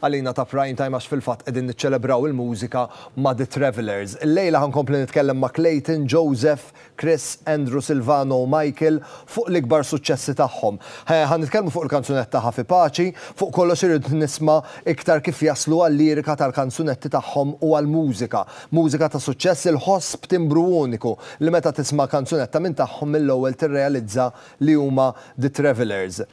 Għalina ta' Prime Time għax fil-fatt qegħdin niċċelebraw il-mużika ma' The Travellers. Illejla ħa nkompli nitkellem ma' Clayton, Joseph, Chris, Andrew, Silvano u Michael fuq l-ikbar suċċessi tagħhom. Ħa nitkellmu fuq il-kanzunetta Ħa fi Paċi, fuq kollox irrid nisma' iktar kif jaslu għal-lirika tal-kanzunetti tagħhom u għall-mużika. Mużika ta' suċċess il-ħoss b'timbru uniku li meta tisma' kanzunetta minn tagħhom mill-ewwel tirrealizza li huma The Travellers.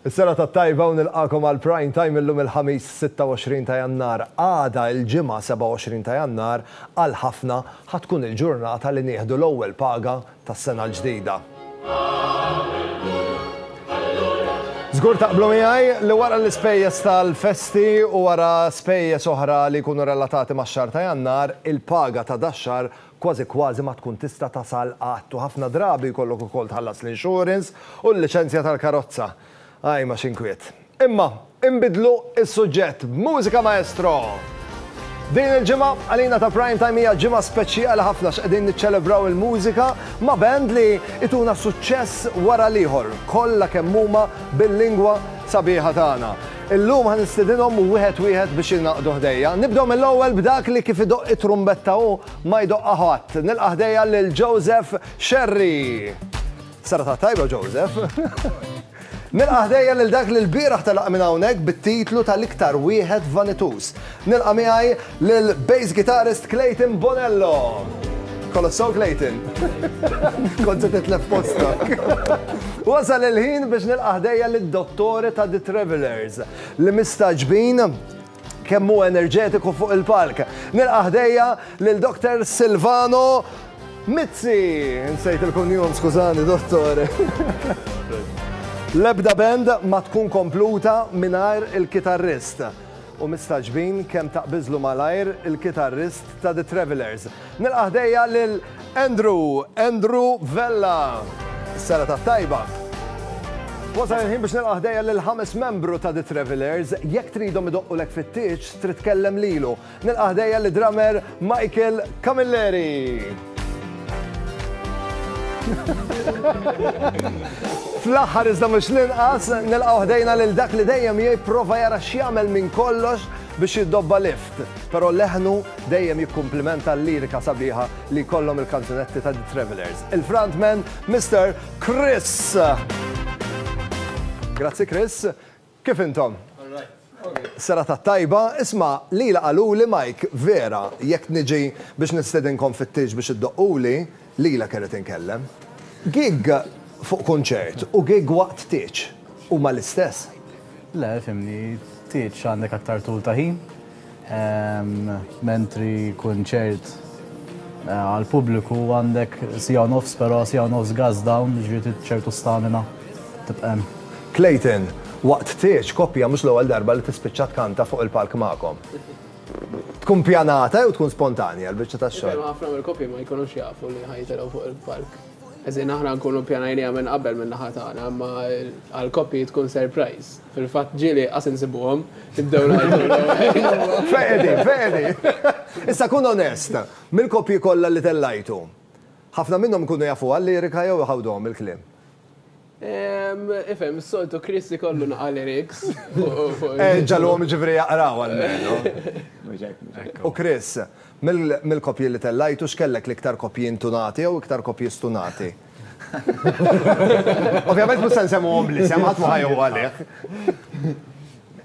Is-serata t-tajba u nilqagħkom għal Prime Time illum il-Ħamis 26 ta' Jannar. Għada il-Ġimgħa 27 ta' Jannar għal ħafna ħa tkun il-ġurnata li nieħdu l-ewwel paga tas-sena l-ġdida. Żgur taqblu miegħi li wara l-ispejjeż tal-festi u wara spejjeż oħra li jkunu relatati max-xahar ta' Jannar, il-paga ta' dax-xahar kważi kważi ma tkun tista' tasal qatt u ħafna drabi jkollok ukoll tħallas l-insurance u l-liċenzja tal-karozza. Ajma x'inkwiet. Imma, inbidlu s-suġġett b'mużika maestro! Din il-ġimgħa, għalina ta' Prime Time hija ġimgħa speċjali ħafna għax qegħdin niċċelebraw il-mużika ma' band li ituna suċċess wara l-ieħor, kollha kemm huma bil-lingwa sabiħa tagħna. Illum ħa nistedinhom wieħed wieħed biex jingħaqdu ħdejja. Nibdew mill-ewwel b'dak li kif idoqq it-trumbetta hu ma jdoqqha ħadd. Nilqa' ħdejja lil Joseph Scerri. Serata tajba Joseph. Nilqa' ħdejja lil dak li l-bieraħ telaq minn hawnhekk bit-titlu tal-iktar wieħed vanituż. Nilqa' miegħi Lil bass guitarist Clayton Bonello! Kollox sew Clayton? Kont se titlef postok. Wasal il-ħin biex nilqa' ħdejja lid-Dottore ta' The Travellers li mistagħġbin kemm hu enerġetiku fuq il-palk. Nilqa' ħdejja lil Doktor Silvano Mizzi! Insejt il-kunjum, skużani Dottore. L-ebda band ma tkun kompluta mingħajr il-kitarrist. u mistagħġbin kemm taqbiżlu malajr il-kitarrist ta' The Travellers. Nilqa' ħdejja lil Andrew, Andrew Vella. Sena tat-tajba. Wasal il-ħin biex nilqa' ħdejja lil ħames membru ta' The Travelers, jekk tridhom idoqqulek fit-tieġ, trid tkellem lilu. Nilqa' ħdejja li drummer Michael Camilleri. Fl-aħħar iżda mhux l-inqas, nilqgħu ħdejna lil dak li dejjem jipprova jara x'jagħmel minn kollox biex jiddobba lift, però leħnu dejjem jikkumplimenta l-lirika sabiħa li jkollhom il-kanzunetti ta' The Travelers. Il-frontman Mr. Chris. Grazzi Chris. Kif intom? Serata tajba, isma' lila qaluli Mike, vera, jekk niġi biex nistedinkom fit-tieġ biex iddoqquli, lilek irrid inkellem. Gig fuq kunċert u gig waqt tieġ huma l-istess? Le, fhimni, tieġ għandek aktar tul ta' ħin, Mentri kunċert għal pubbliku għandek sija u nofs, però sija u nofs gas down, ġifieri ċertu stamina tibqa' hemm. Clayton, Waqt tieġ koppja mhux l-ewwel darba li tispiċċa tkanta fuq il-palk magħkom. Tkun pjanata jew tkun spontanja l-biċċa tax-xogħol? Ħafna mill-koppji ma jkunux jafu li ħa jitilgħu fuq il-palk. Aħna nkunu pjanajniha minn qabel min-naħa tagħna, imma għall-koppji tkun surprise. Fil-fatt ġieli inqas insibuhom, tibdew ngħidu. Fehedi, fehedi! Issa kun onest, mill-koppji kollha li tellajtu, ħafna minnhom ikunu jafuha l-lirika jew iħawduhom il-kliem? Ehm, ifhem, is-soltu Chris ikollu naqa' lyrics fuq. Eh, ġagħluhom jiġifieri jaqraw almenu. Mhux hekk, mhux hekk. U Chris, mill-koppji li tellajtu x'kellek l-iktar koppji intunati jew iktar koppji stunati? Ovvjament mhux se nsemmuhom bl-isem, ħadd ma ħajgħu għalih.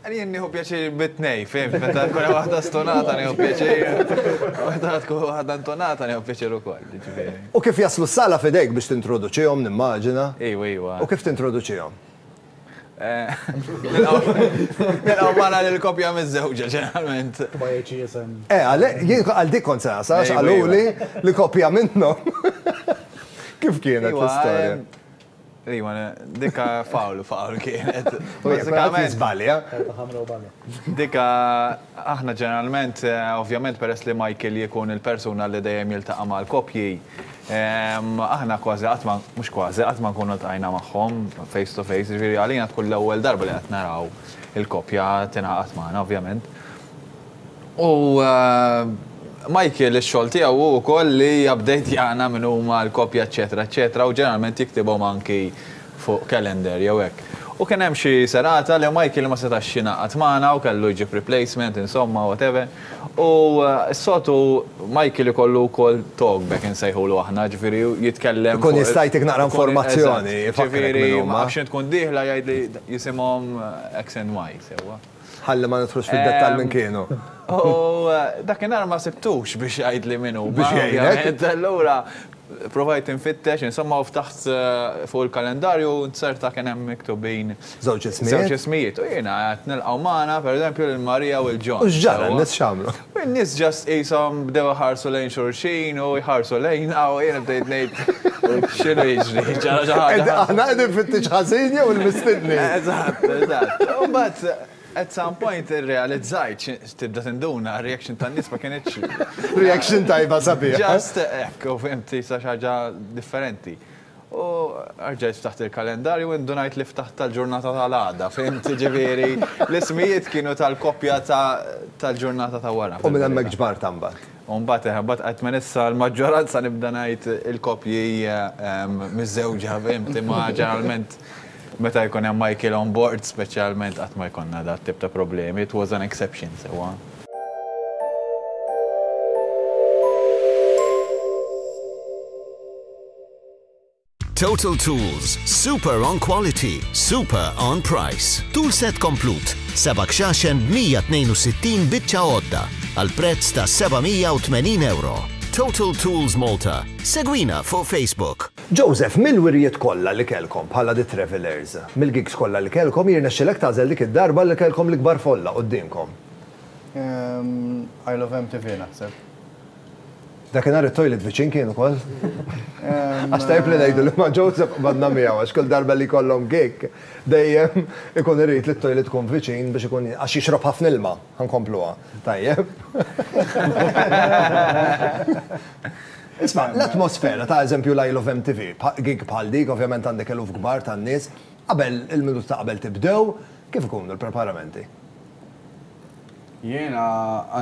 Jien nieħu pjaċir bit-tnejn, fehmiet, meta tkun hemm waħda stonata nieħu pjaċir, meta tkun waħda ntonata nieħu pjaċir ukoll, jiġifieri. U kif jaslu s-sala f'idejk biex tintroduċihom, nimmaġina? Ejwa, ejwa. U kif tintroduċihom? Nilqgħu magħna lill-koppja miżżewġa ġeneralment. Eh, jien għal dik kont se nasa, għax qaluli li koppja minnhom. Kif kienet l-istorja? Iva, dikka fawl fawl kienet. Bażikament żbalja. Dikka Aħna ġeneralment, ovvjament peress li Michael jkun il-persuna li dejjem jiltaqa' mal-koppji, aħna kważi qatt ma, mhux kważi, qatt ma nkunu ltqajna magħhom face to face, jiġifieri għalina tkun l-ewwel darba li qed naraw il-koppja tingħaqad magħna ovvjament. U Michael ix-xogħol tiegħu hu wkoll li jupdejtjana min huma l-koppja eċċetera eċċetera u ġeneralment jiktibhom anki fuq calendar jew hekk. U kien hemm xi serata li Michael ma setax jingħaqad magħna u kellu jġib replacement insomma whatever. U s-soltu Michael ikollu wkoll talkback insejħulu aħna, ġifieri jitkellem fuq. Ikun jista' jtik naqra informazzjoni, ifakrek min huma. Ġifieri ma nafx x'int tkun dieħla jgħidli jisimhom X and Y, sewwa. Ħalli ma nidħlux fid-dettall minn kienu. U dakinhar ma sibtux biex jgħidli min hu. Biex jgħidlek. Allura provajt infittex, insomma u ftaħt eh, fuq il-kalendarju nzerta kien hemm miktubin. Żewġ ismijiet. Żewġ ismijiet. U jiena qed nilqgħu magħna pereżempju lil Marija u l-Ġon. U x'ġara, nis x'għamlu? In-nies just qishom bdew iħarsu lejn xulxin u jħarsu lejna u jiena bdejt ngħid x'inhu jiġri, ġara xi ħaġa. Qed aħna qegħdin fittiġ ħażin jew il-mistednin? Eżatt, eżatt. U mbagħad at some point irrealizzajt xi tibda tinduna r-reaction tan-nies ma kinitx. Reaction tajba sabiħa. Just hekk, u fhimti sa xi ħaġa differenti. U rġajt ftaħt il-kalendarju u indunajt li ftaħt tal-ġurnata tal-għada, fimt? Jiġifieri l-ismijiet kienu tal-koppja tal-ġurnata ta' wara. U minn hemmhekk ġbartha mbagħad? U mbagħad eħe, mbagħad qgħidt minn issa l-maġġoranza nibda ngħid il-koppji miżżewġa, fimt? Imma ġeneralment meta jkun hemm Michael on board speċjalment qatt ma jkollna dat tip ta' problemi, it was an exception sewwa. Total Tools, super on quality, super on price. Tool set komplut, seba' kxaxen b'162 biċċa għodda għal prezz ta' 780 euro. Total Tools Malta. Segwina fuq Facebook. Joseph, mill-wirjiet kollha li kellkom bħala The Travellers, mill-gigs kollha li kellkom, jirnexxilek tagħżel dik id-darba li kellkom l-ikbar folla quddiemkom? Isle of MTV naħseb. Dakinhar it-toilet viċin kien ukoll. Għax tajjeb li ngħidu li ma' Joseph qbadna miegħu għax kull darba li jkollhom gig dejjem ikun irid li t-toilet tkun viċin biex ikun għax jixrob ħafna ilma. Ħa nkompluha. Tajjeb. Isma', l-atmosfera ta' eżempju l-I Love MTV, gig bħal dik ovvjament għandek eluf kbar ta' nies, qabel il-minuta ta' qabel tibdew, kif ikunu l-preparamenti? Jiena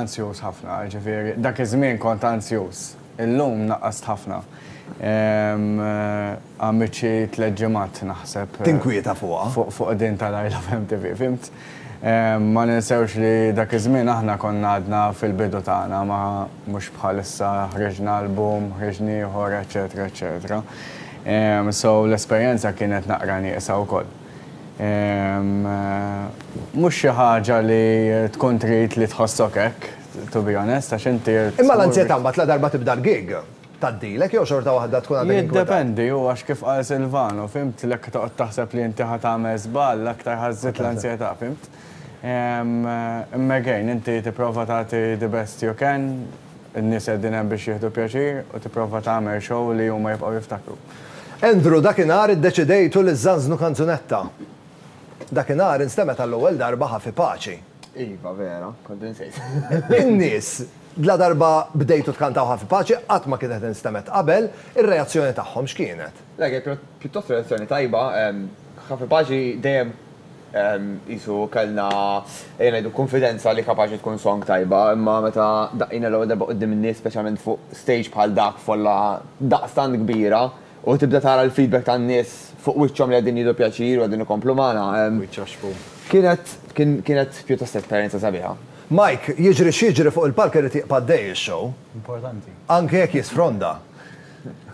anzjuż ħafna, jiġifieri dak iż-żmien kont anzjuż. Illum naqqast ħafna. Għamilt xi tliet ġimgħat naħseb. Tinkwieta fuqha. Fuq din ta' l-I Love MTV, fhimt? Ma ninsewx li dak iż-żmien aħna konna għadna fil-bidu tagħna, ma mhux bħal issa ħriġna album, ħriġna ieħor, eċċetera eċċetera. So l-esperjenza kienet naqra nieqsa wkoll. Mhux xi ħaġa li tkun trid li tħossok hekk, to be honest, għax inti rrid. Imma l-anzjetà mbagħad ladarba tibda l-gig, tgħaddilek jew xorta waħda tkun għadek inkwetat? Jiddependi, hu għax kif qal Silvano, fimt, l-hekk toqgħod taħseb li inti ħa tagħmel żball, l-aktar ħa żżid l-anzjetà, fimt. Imma again, inti tipprova tagħti the best you can, In-nies qegħdin hemm biex jieħdu pjaċir u tipprova tagħmel show li huma jibqgħu jiftakru. Andrew, Dakinhar iddeċidejtu li żżanżnu kanzunetta. Dakinhar instemgħet għall-ewwel darba Ħafi Paċi. Iva, vera, kont insejt. In-nies, ladarba bdejtu tkantaw Ħafi Paċi, qatt ma kienet instemgħet qabel, ir-reazzjoni tagħhom x'kienet? Le, kienet pjuttost relazzjoni tajba. Kapaċi dejjem qisu kellna, ejja ngħidu, kunfidenza li kapaċi tkun song tajba, imma meta daqqina l-ewwel darba quddiem in-nies, speċjalment fuq stage bħal dak f'folla daqstant kbira, u tibda tara l-feedback tan-nies fuq wiċċhom li qegħdin jieħdu pjaċir u qegħdin ikomplu magħna, kienet kienet pjuttost esperjenza sabiħa. Mike, jiġri x'jiġri fuq il-palk irid jibqa' għaddej ix-show. Anke jekk jisfronda.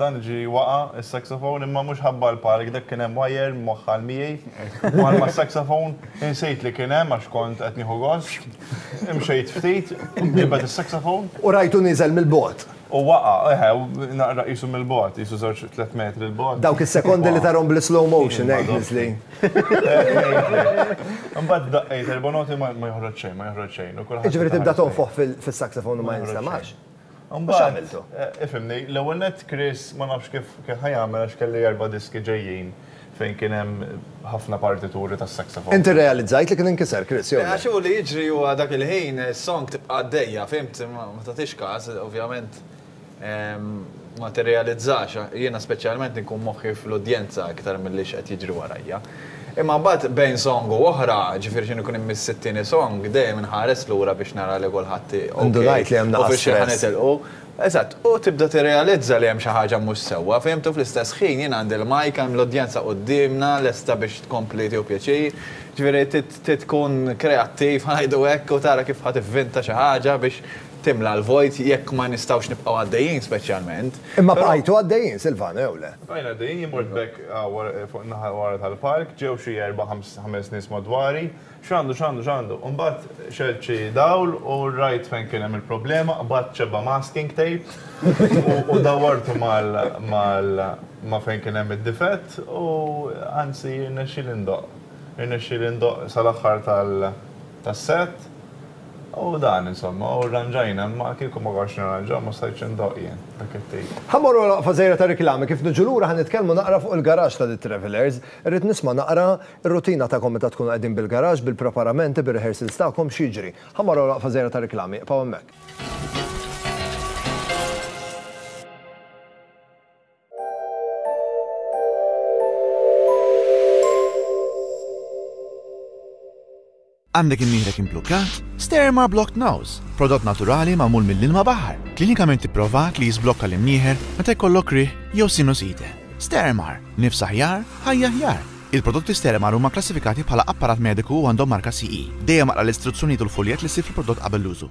Dan ġie waqa' s-saxophone imma mhux ħabba l-palk, dak kien hemm wire mwaħħal miegħi, mar mas-saxophone, insejt li kien hemm għax kont qed nieħu gost, imxejt ftit, ġibed is-saxophone. U rajtu nieżel mill-bogħod. U waqa', eħe, naqra qisu mill-bogħod, qisu żewġ tliet metri 'l bogħod. Dawk is-sekondi li tarhom bl-islow motion hekk niżlin. Imbagħad daqqejt erba' noti ma joħroġ xejn, ma joħroġ xejn. Jiġifieri tibda tonfoħ fis-saxophone u ma jinstemgħax? Mhux għamiltu. Ifhimni, l-ewwel nett Chris ma nafx kif kien ħa jagħmel għax kelli erba' diski ġejjin fejn kien hemm ħafna partituri tas-saxophone. Inti rrealizzajt li kien inkiser Chris, jew le? Le, għax hu li jiġri huwa dak il-ħin is-song tibqa' għaddejja, fhimt, imma ma tagħtix każ, ovvjament ma tirrealizzax, jiena speċjalment inkun moħħi fl-udjenza iktar milli x'qed jiġri warajja. Imma mbagħad bejn song u oħra, ġifieri x'inhu jkun immiss it-tieni song, dejjem inħares lura biex nara li kulħadd ok. Indunajt li hemm naqa' stress. U f'xiex ħa nitilqu. Eżatt, u tibda tirrealizza li hemm xi ħaġa mhux sewwa, fihimt? U fl-istess ħin jien għandi l-mike, hemm l-udjenza quddiemna lesta biex tkompli tieħu pjaċir. Ġifieri trid tkun kreattiv, ħa ngħidu hekk, u tara kif ħa tivvinta xi ħaġa biex timla l-vojt jekk ma nistgħux nibqgħu għaddejjin speċjalment. Imma bqajtu għaddejjin, Silvano, jew le? Bqajna għaddejjin, jien mort b'hekk fuq in-naħa ta' wara tal-park, ġew xi erba' ħames nies madwari, x'għandu, x'għandu, x'għandu? Imbagħad xegħelt xi dawl u rajt fejn kien hemm il-problema, qbadt xebba masking tape u dawwartu ma' fejn kien hemm id-difett u anzi rnexxieli ndoqq. Irnexxieli ndoqq sal-aħħar tal-. tas-sett, u dan, insomma, u rranġajna, imma kieku ma konx nirranġaw ma stajtx indoqq jien dak it-tip. Ħa mmorru għal waqfa żgħira ta' riklami, kif niġu lura ħa nitkellmu naqra fuq il-garaxx ta' The Travellers. Irrid nisma' naqra r-rutina tagħkom meta tkunu qegħdin bil-garaxx, bil-preparamenti, bir-rehearsals tagħkom, x'jiġri. Ħa mmorru għal waqfa żgħira ta' riklami, iqbgħu hemmhekk. Għandek imnieħrek imblukkat? Sterma Blocked Nose, prodott naturali magħmul mill-ilma baħar, klinikament ipprovat li jiżblokka l-imnieħer meta jkollok rih jew sinusite. Stermar, nifs aħjar, ħajja aħjar. Il-prodotti Stermar huma klassifikati bħala apparat mediku u għandhom marka CE. Dejjem aqra l-istruzzjonijiet u l-fuljett li ssib fil-prodott qabel l-użu.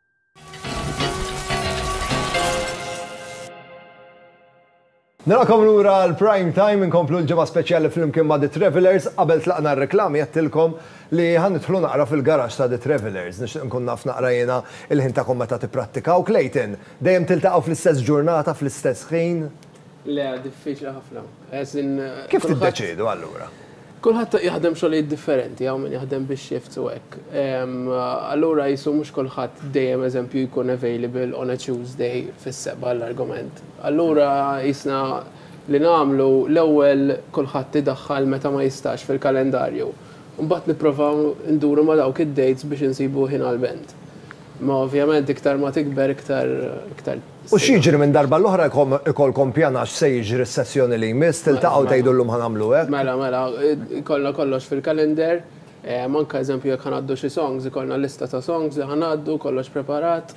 Nilqakom lura għal Prime Time inkomplu l-ġimgħa speċjali flimkien ma' The Travelers. Qabel tlaqna r-reklami għedtilkom li ħa nidħlu naqra fil-garaxx ta' The Travelers. Nixtieq nkun naf naqra jiena il-ħin tagħkom meta tipprattikaw. Clayton, dejjem tiltaqgħu fl-istess ġurnata fl-istess ħin? Le, diffiċli ħafna. Kif tiddeċiedu allura? Kulħadd jaħdem xogħlijiet differenti, hawn min jaħdem bix-shifts u hekk. Allura qisu mhux kulħadd dejjem eżempju jkun available on a Tuesday fis-sebgħa għall-argument. Allura qisna li nagħmlu l-ewwel kulħadd idaħħal meta ma jistax fil-kalendarju. Imbagħad nipprovaw nduru ma' dawk id-dates biex insibu ħin għall-band. Imma ovvjament iktar ma tikber iktar U x'jiġri minn darba l-oħra jkollkom pjana x'se jiġri s-sessjoni li jmiss, tiltaqgħu tgħidu llum ħa nagħmlu hekk? Mela, mela, jkollna kollox fil-calendar, anke eżempju jekk ħa ngħaddu xi songs, ikollna lista ta' songs li ħa ngħaddu, kollox preparat,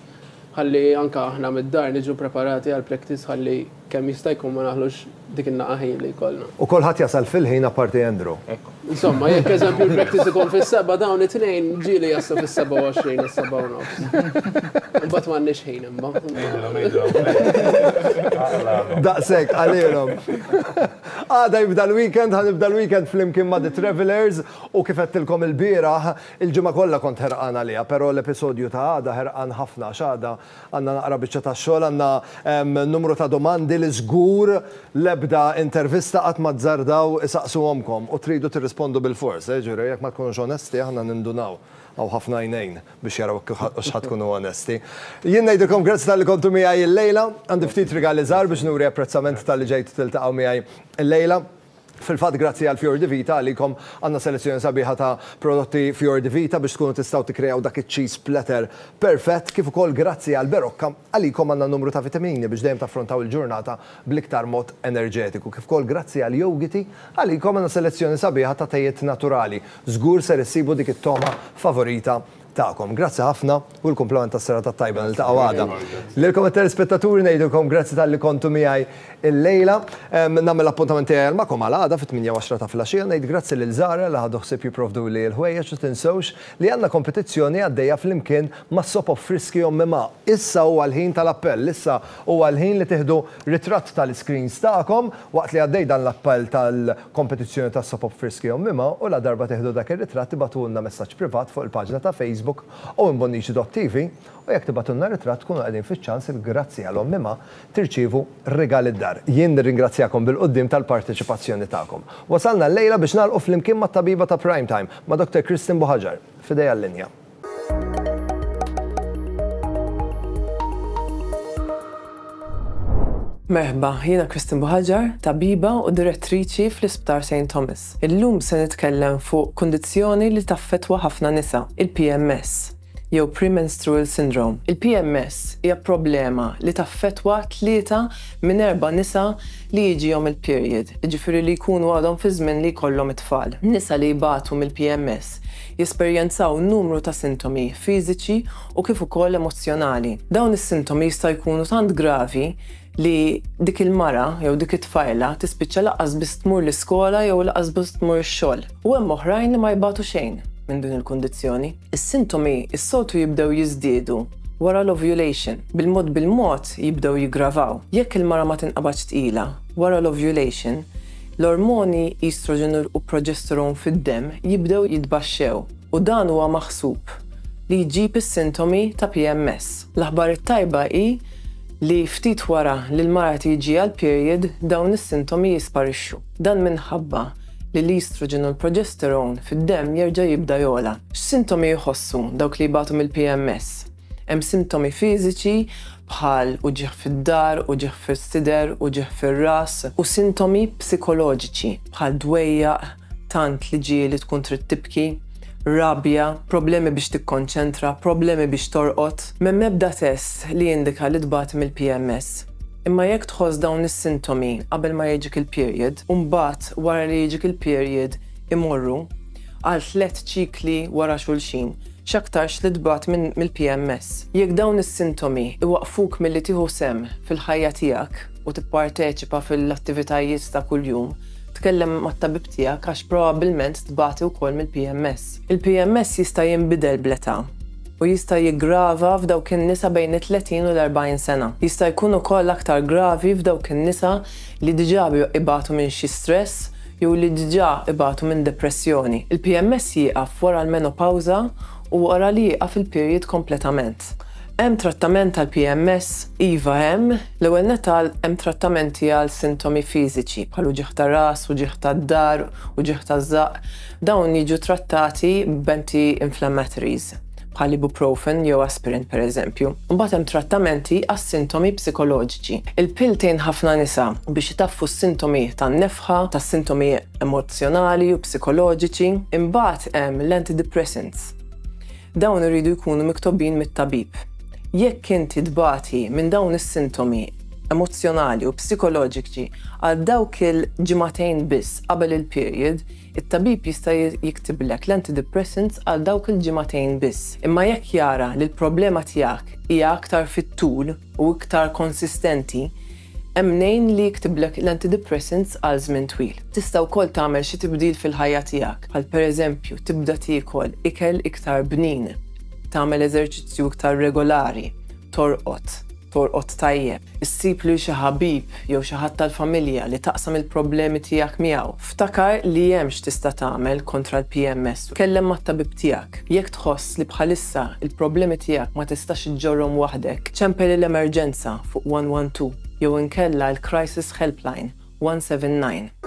ħalli anke aħna mid-dar niġu preparati għall-practice ħalli kemm jista' jkun ma naħlux. Dik in-naqa' ħin li jkollna. U kulħadd jasal fil-ħin apparti Andrew. Hekk. Insomma, jekk eżempju l-practice ikun fis-sebgħa dawn it-tnejn ġieli jaslu fis-27 u s-sebgħa u nofs. Imbagħad m'għandniex ħin imma. Ngħidilhom, ngħidilhom. Daqshekk qalilhom. Għada jibda l-weekend, ħa nibda l-weekend flimkien ma' The Travellers u kif għedtilkom ilbieraħ, il-ġimgħa kollha kont ħerqan għaliha, però l-episodju ta' għada ħerqan ħafna għax għada Għandna naqra biċċa ta' xogħol, għandna numru ta' domandi li żgur l-ebda intervista qatt ma zzardaw isaqsuhomkom u tridu tirrispondu bilfors. Jiġifieri jekk ma tkunux onesti aħna nindunaw. Hawn ħafna għajnejn biex jaraw x'ħa tkunu onesti. Jien ngħidilkom grazzi talli kontu miegħi illejla. Għandi ftit rigali żgħar biex nuri apprezzament talli ġejtu tiltaqgħu miegħi illejla. Fil-fatt grazzi għal Fior di Vita għalikom għandna selezzjoni sabiħa ta' prodotti Fior di Vita biex tkunu tistgħu tikkreaw dak iċ-cheese platter perfett kif ukoll grazzi għal Berocca għalikom għandna numru ta' vitamini biex dejjem taffrontaw il-ġurnata bl-iktar mod enerġetiku kif ukoll grazzi għal Yougiti għalikom għandna selezzjoni sabiħa ta' tejiet naturali żgur ser issibu dik it-togħma favorita tagħkom. Grazzi ħafna u l-kumplament tas-serata t-tajba niltaqgħu għada. Lilkom it-telespettaturi ngħidilkom grazzi talli kontu miegħi llejla. Nagħmel l-appuntament tiegħi għal magħkom għal għada fit-tmienja u għaxra ta' filgħaxija. Ngħid grazzi lil Zahra li ħadu ħsieb jipprovduli l-ħwejjeġ u tinsewx li għandna kompetizzjoni għaddejja flimkien ma' Sop of Friski Ommi Ma. Issa huwa l-ħin tal-appell. Issa huwa l-ħin li tieħdu ritratt tal-iscreens tagħkom waqt li għaddej dan l-appell tal kompetizzjoni ta' Soap Op Friski Ommima u ladarba tieħdu dak ir-ritratt ibagħtulna messaġġ privat fuq il-paġna ta' Facebook owenbonnici.tv u jekk tibagħtulna ritratt tkunu qegħdin fiċ-ċans li grazzi għal Ommima tirċievu rigal id-dar. Jien nirringrazzjakom bil-quddiem tal-parteċipazzjoni tagħkom. Wasalna llejla biex nagħlqu flimkien mat-tabiba ta' Prime Time, ma' Doctor Christine Buhaġar. F'idejha l-linja. Merħba, jiena Kristin Buħaġar, tabiba u direttriċi fl-Isptar St. Thomas. Illum se nitkellem fuq kundizzjoni li taffettwa ħafna nisa, il-PMS, jew Premenstrual Syndrome. Il-PMS hija problema li taffettwa tlieta minn erba' nisa li jiġihom il-period, jiġifieri li jkunu għadhom fi żmien li jkollhom it-tfal. Nisa li jbatu mill-PMS jesperjenzaw numru ta' sintomi fiżiċi u kif ukoll emozzjonali. Dawn is-sintomi jistgħu jkunu tant gravi li dik il-mara jew dik it-tfajla tispiċċa lanqas biss tmur l-iskola jew lanqas biss tmur ix-xogħol. U hemm oħrajn li ma jbatu xejn minn din il-kundizzjoni. Is-sintomi s-soltu jibdew jiżdiedu wara l-ovulation, bil-mod bil-mod jibdew jiggravaw. Jekk il-mara ma tinqabadx tqila wara l-ovulation, L-ormoni estrogen u progesterone fid-demm jibdew jitbaxxew u dan huwa maħsub li jġib is-sintomi ta' PMS. L-aħbar it-tajba hi li ftit wara li l-mara tiġiha l-period dawn is-sintomi jisparixxu. Dan minħabba li l-estrogen u l-progesterone fid-demm jerġa' jibda jogħla. X'sintomi jħossu dawk li jbatu mill-PMS? Hemm sintomi fiżiċi bħal uġigħ fid-dahar, uġigħ fis-sider, uġigħ fir-ras u sintomi psikoloġiċi bħal dwejjaq, tant li ġieli tkun trid tibki, rabja, problemi biex tikkonċentra, problemi biex torqod. M'hemm ebda test li jindika li tbati mill-PMS. Imma jekk tħoss dawn is-sintomi qabel ma jiġik il-period u mbagħad wara li jiġik il-period imorru, għal tliet ċikli wara xulxin, x'aktarx li tbagħat mill-PMS. Jekk dawn is-sintomi jwaqqfuk milli tieħu sehem fil-ħajja tiegħek u tipparteċipa fil-attivitajiet ta' kuljum, tkellem mat-tabib tiegħek għax probabbilment tbati wkoll mill-PMS. Il-PMS jista' jinbidel bl-età u jista' jiggrava f'dawk in-nisa bejn it-30 u l-40 sena. Jista' jkun ukoll aktar gravi f'dawk in-nisa li diġà ibatu minn xi stress jew li diġà ibatu minn depressjoni. Il-PMS jieqaf wara l-menopawża u wara li jieqaf il-period kompletament. Hemm trattament għall-PMS? Iva hemm. L-ewwel nett għal hemm trattamenti għal sintomi fiżiċi bħal uġigħ ta' ras, uġigħ tad-dahar, uġigħ taż-żaqq. Dawn jiġu trattati b'anti-inflammatories. bħal ibuprofen jew aspirin pereżempju. Imbagħad hemm trattamenti għas-sintomi psikoloġiċi. Il-pill tgħin ħafna nisa biex itaffu s-sintomi tan-nefħa, tas-sintomi emozzjonali u psikoloġiċi. Imbagħad hemm l-antidepressants. Dawn iridu jkunu miktobin mit-tabib. Jekk inti tbati minn dawn is-sintomi emozzjonali u psikoloġiċi għal dawk il-ġimagħtejn biss qabel il-period, It-tabib jista' jiktiblek l-antidepressants għal dawk il-ġimagħtejn biss, imma jekk jara li l-problema tiegħek hija aktar fit-tul u iktar konsistenti, hemm mnejn li jiktiblek l-antidepressants għal żmien twil. Tista' wkoll tagħmel xi tibdil fil-ħajja tiegħek, bħal pereżempju tibda tiekol ikel iktar bnin, tagħmel eżerċizzju iktar regolari, torqod, Torqod tajjeb, issib lil xi ħabib jew xi ħadd tal-familja li taqsam il-problemi tiegħek miegħu. Ftakar li hemm x'tista' tagħmel kontra l-PMS u tkellem mat-tabib tiegħek. Jekk tħoss li bħalissa l-problemi tiegħek ma tistax iġġorrhom waħdek, ċempel il-emerġenza fuq 112 jew inkella l-Crisis Helpline 179.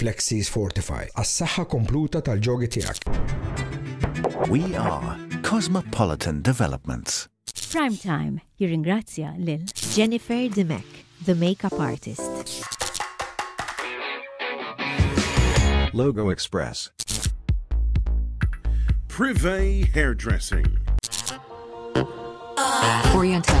Flexies Fortify għas-saħħa kompluta tal-ġogi tiegħek. We are Cosmopolitan Developments. Prime Time jirringrazzja lil Jennifer Dimech, the makeup artist. Logo Express. Privé Hairdressing. Oriental.